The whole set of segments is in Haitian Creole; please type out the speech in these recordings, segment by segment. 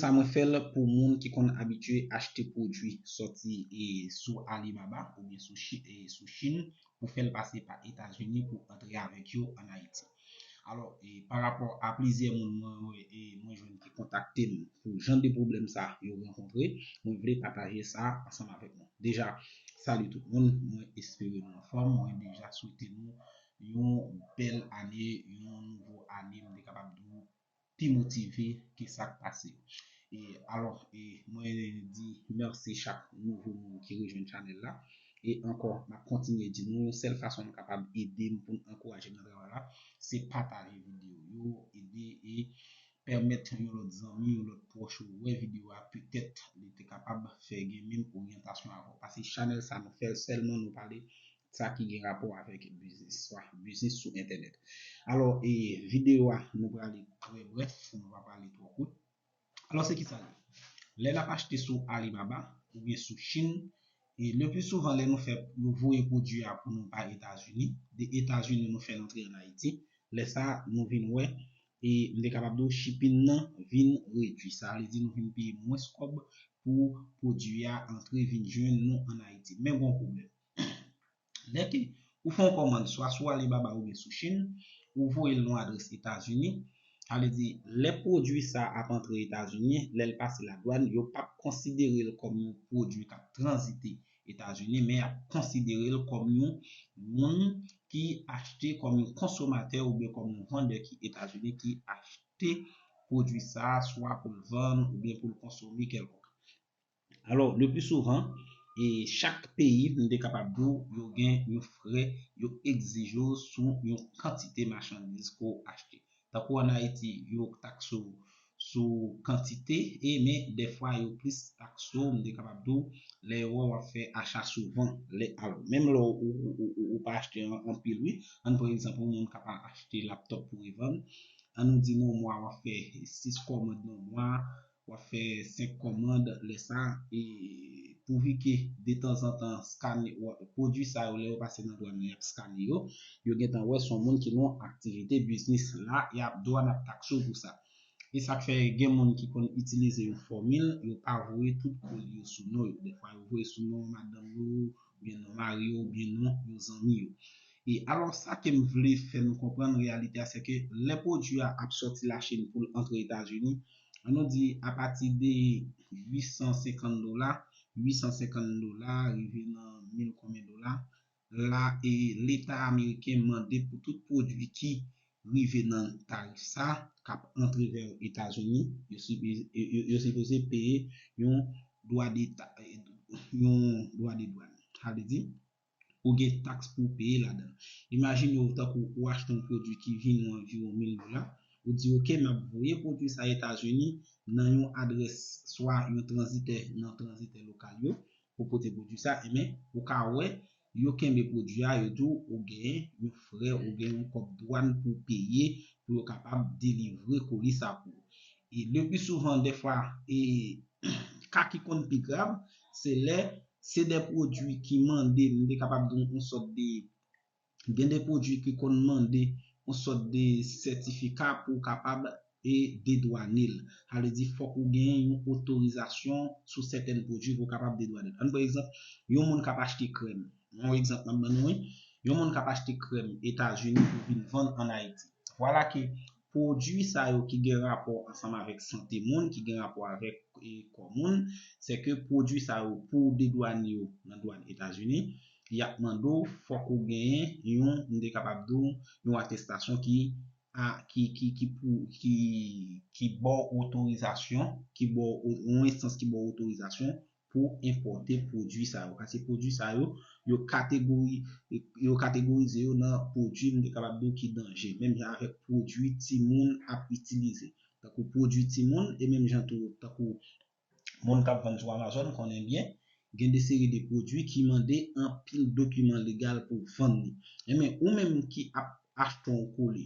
sa mwen fèl pou moun ki konn abitye achte pwodwi sòti sou Alibaba oubyen sou Chin pou fèl pase pa Etazini pou antre avèk yo an Ayiti. Alò, pa rapò a plizyè moun mwen wè e mwen jwenn ki kontakte m pou jan de pwoblèm sa yo rankontre, mwen vle pataje sa ansanm avèk nou. Deja, salut tout moun, mwen espere nou anfòm, mwen deja swete nou yon bèl ane, yon nouvo ane m te kapab di w pi motive ke sa k pase e alò e mwen di mèsi chak nouvo moun ki rejwenn chanèl la e ankò m ap kontinye di nou sèl fason nou kapab ede m pou n ankouraje m nan travay la se pataje videyo yo ede e pèmèt yon lòt zanmi yon lòt pwòch ou wè videyo a petèt li te kapab fè gen menm oryantasyon avè w paske chanèl sa nou fè l sèlman nou pale sa ki gen rapò avèk biznis, swa biznis sou entènèt. Alò, e videyo a nou prale trè brèf, nou pa prale twò kout. Alò se kisa l ye? Lè n ap achte sou Alibaba oubyen sou Chinn, e le pli souvan lè nou fè yo voye pwodui a pou nou pa Etazini, de Etazini nou fè l antre an Ayiti, lè sa a nou vin wè e m te kapab di w shipping nan vin redui. Sa vle di nou vin peye mwens kòb pou pwodui a antre vin jwenn nou an Ayiti. Men gon pwoblèm. Lè ke ou fè yon kòmand swa sou Alibaba oubyen sou Chinn, ou voye l nan yon adrès Etazini, sa vle di lè pwodui sa ap antre Etazini, lè l pase ladwann, yo p ap konsidere l kòm yon pwodui k ap tranzite Etazini, men y ap konsidere l kòm yon moun ki achte, kòm yon konsomatè oubyen kòm yon vandè ki Etazini ki achte pwodui sa swa pou l vann oubyen pou l konsome kèlkonk. Alò, le pli souvan, e chak peyi, m te kapab di w, yo gen yon frè yo egzije w sou yon kantite machandiz ke w achte. Tankou an Ayiti, yo takse w sou kantite e men dèfwa yo plis takse w, m te kapab di w, lè yo wè w ap fè acha souvan. Lè, alò, menm lè ou pa achte anpil wi, ann pran egzanp yon moun k ap achte laptòp pou revann, annou di nan yon mwa w ap fè 6 kòmand nan mwa, Wap fè 5 kòmand lè sa e pouvi ke detanzantan skane pwodwi sa yo lè yo pase nan dwan nan yap skane yo, yo gentan wè son moun ki nan yon aktivite biznis la yap dwan ap takse w pou sa. E sak fè gen moun ki konn itilize yon fòmil yo pa voye tout kòl yo sou non yo dèfwa yo voye sou non madanm yo oubyen non mari yo oubyen non yon zanmi yo. E alò sa kem vle fè nou konprann reyalite a sèke lè pwodwi a ap sòti lachin poul antre etazini An nou di apati de 850 dola, 850 dola rive nan mil konbyen dola, la e leta ameriken mande pou tout pwodui ki rive nan tarif sa k ap antre vè Etazini, yo sipoze peye yon dwa de dwàn. Sa vle di. Ou gen taks pou w peye ladan l. Imajine w tankou ou achte yon pwodui ki vi nou anviwon 1000 dola, ou di ok m ap voye pwodui sa Etazini nan yon adrès swa yon tranzitè nan tranzitè lokal yo pou pote pwodui sa, enben ou ka wè yo kenbe pwodui a, yo di w ou gen yon frè, ou gen yon kòb dwàn pou w peye pou yo kapab delivre koli sa pou ou. E le pi souvan dèfwa e ka ki konn pi grav se lè se de pwodui ki mande nou te kapab di yon sòt de gen de pwodui ki konn mande yon sòt de sètifika pou w kapab e dedwane l. Sa vle di fòk ou gen yon otorizasyon sou sèten pwodui pou w kapab dedwane l. Ann pran egzanp, yon moun k ap achte krèm, yon egzanp m ap ban nou wi, yon moun k ap achte krèm Etazini pou vin vann ann Ayiti. Vwala ke Pwodui sa yo ki gen rapò ansanm avèk sante moun, ki gen rapò avèk kò moun, se ke pwodui sa yo pou w dedwanye yo nan dwàn Etazini, y ap mande w fòk ou genyen yon, m te kapab di w, yon atestasyon ki a, ki, ki, ki pou, ki, ki ba w otorizasyon, ki ba w, yon enstans ki ba w otorizasyon pou enpòte pwodui sa yo. Pase pwodui sa yo, yo kategori, yo kategorize yo nan pwodui m te kapab di w ki danje. Menm jan avèk pwodui timoun ap itilize. Tankou pwodui timoun, e menm jan tou tankou moun k ap vann sou Amazon konnen byen, gen de seri de pwodui ki mande anpil dokiman legal pou vann li. Enben, ou menm ki ap achte yon kole,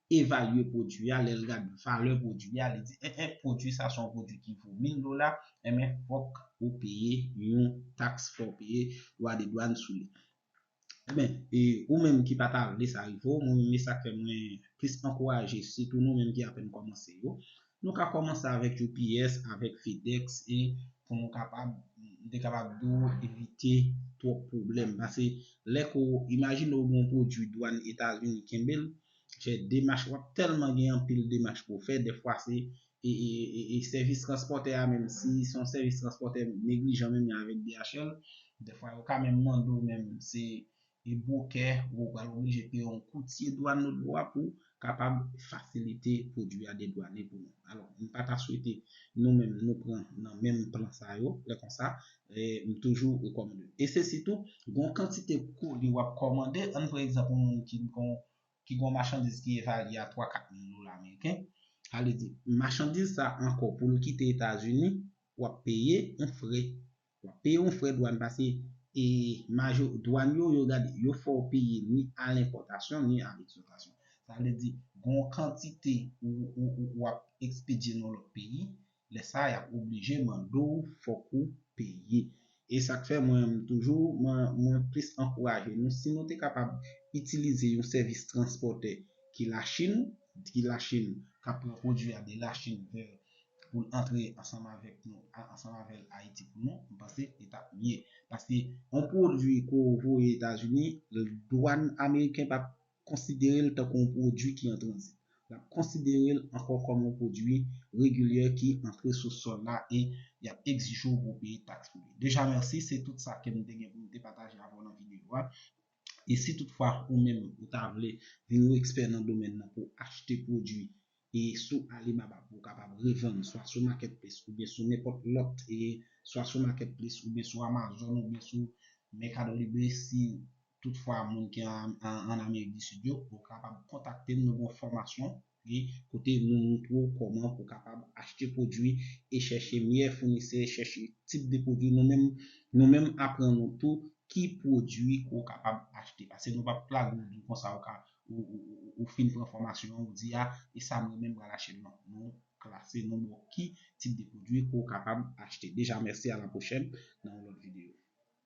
evalye pwodui a, lè l gad valè pwodui a, li di en en pwodui sa se yon pwodui ki vo 1000 dola, enben fòk ou peye yon taks, fòk ou peye dwa de dwann sou li. Enben, e ou menm ki pa ta vle sa rive w, mwen menm e sa k fè mwen plis ankouraje sitou nou menm ki apèn kòmanse yo, nou ka kòmanse avèk UPS, avèk FedEx e pou nou kapab, m te kapab di w, evite twòp pwoblèm. Pase lè ke w, imajine w gen yon pwodui dwann Etazini kenbe l, fè demach wap tèlman gen anpil demach pou w fè dèfwa se e sèvis transpòtè a menm si son sèvis transpòtè neglijan menm jan avèk DHL dèfwa yo ka menm mande w menm se e bwokè ou pral oblije peye yon koutye dwàn lotbòa pou kapab fasilite pwodwi a dedwane pou nou alò m pa ta swete nou menm nou pran nan menm plan sa yo lè konsa M toujou rekòmande. E se sitou, gon kantite koli wap kòmande, ann pran egzanp yon moun ki gon ki gon machandiz ki evalye a 3, 4 mil dola meriken, sa vle di, machandiz sa ankò pou l kite Etazini, wap peye yon frè, wap peye yon frè dwàn pase e majo, dwàn yo, yo gade, yo fè w peye ni a lenpòtasyon ni a leksòtasyon. Sa vle di, gon kantite ou, ou, ou wap ekspedye nan lòt peyi, Lè sa yap oblije mande w fòk ou peye. E sak fè mwen m toujou mwen plis ankouraje nou si nou te kapab itilize yon sèvis transpòtè ki la chine, ki la chine kap pran pwodwi a de la chine vè pou l antre ansanm avèk nou ansanm avèl ayiti pou nou m panse li tap mye paske yon pwodwi ke w voye etazini dwàn ameriken pap konsidere l tankou yon pwodui ki an tranzit. L ap konsidere l ankò kòm yon pwodui regilyè ki antre sou sòl la e y ap egzije w pou w peye taks pou li. Deja mèsi, se tout sa ke m te gen pou m te pataje avè w nan videyo a. E si tout fwa ou menm ou ta vle vin yon ekspè nan domèn nan pou w achte pwodui e sou Alibaba pou w kapab revann swa sou Marketplace oubyen sou nenpòt lòt e swa sou Marketplace oubyen sou Amazon oubyen sou Mercado Libre si tout fwa moun ki an Amerik di Sid yo ou kapab kontakte m nou gen yon fòmasyon e kote nou montre w kòman pou kapab achte pwodwi e chèche meyè founisè chèche tip de pwodwi nou menm nou menm aprann ou tou ki pwodwi ke w kapab achte pase nou pap plage w di w konsa ou ka ou fin pran fòmasyon an ou di a e sa mwen menm pral achte non nou klase nou ba w ki tip de pwodwi ke w kapab achte deja mèsi a la pwochèn nan yon lòt videyo.